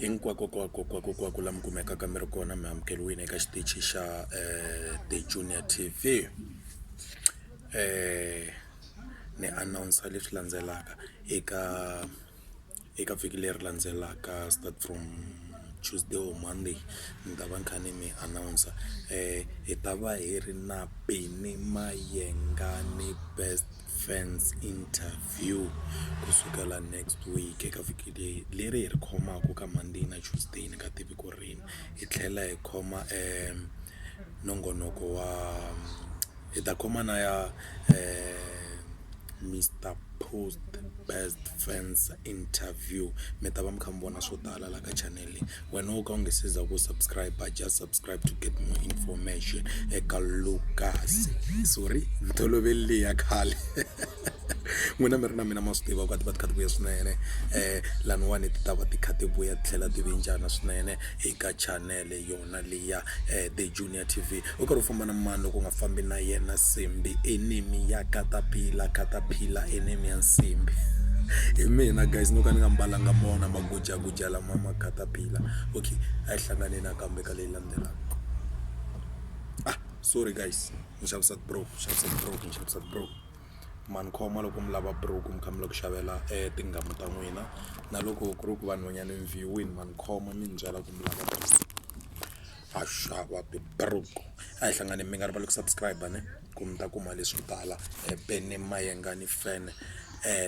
Hinkwakokwakokwakokwako la mi kumekaka mi ri kona mi amukeliwile eka xitichi xa um the junior tv um ni announcer leswi landzelaka eka eka vhiki leri landzelaka start from tuesday or monday ni ta va ni kha ni mi announcer hi ta va hi ri na Benny Mayengani best. fans interview ku sukela next week eka vhiki leyi leri hi ri khomaka ka monday na tuesday ni nga tivi ku rini hi tlhela hi khoma nongonoko wa hi ta khoma na ya Mister Post best fans interview mi ta va mi kha mi vona swo tala laha ka chanel leyi. Wena wo ka u nga se za ku subscribe just subscribe to get more information eka Lucas sorry ntoloveli leyi ya khale n'wina mi ri na mina ma swi tiva ku a ti va ti kha ti vuya swinene um laniwani ti ta va ti kha ti vuya ti tlhela ti vinjana swinene eka chanele yona leya um the junior. ya T_V u karhi u famba na mani loko u nga fambi na yena Simbi enemy ya caterpillar, caterpillar enemy ya Nsimbhi hi mina guys no ka ni nga mbalanga mona magujaguja lama ma caterpillar okay a hi hlanganeni nakambe ka leyi landzelaka ah sorry guys ni xavisa ti-bro ni xavisa ti-bro ni xavisa ti-bro ma ni khoma loko mi lava bro mi kha mi lava ku xavela tinghoma ta n'wina na loko ku ri ku vanhwanyana ni ma ni khoma mi ni byela ku mi lava bro. ha xava tiburuku a hi hlanganeni mi nga rivali ku subscribe ne ku mi ta kuma leswo tala Benny Mayengani fan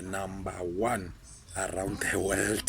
number one around the world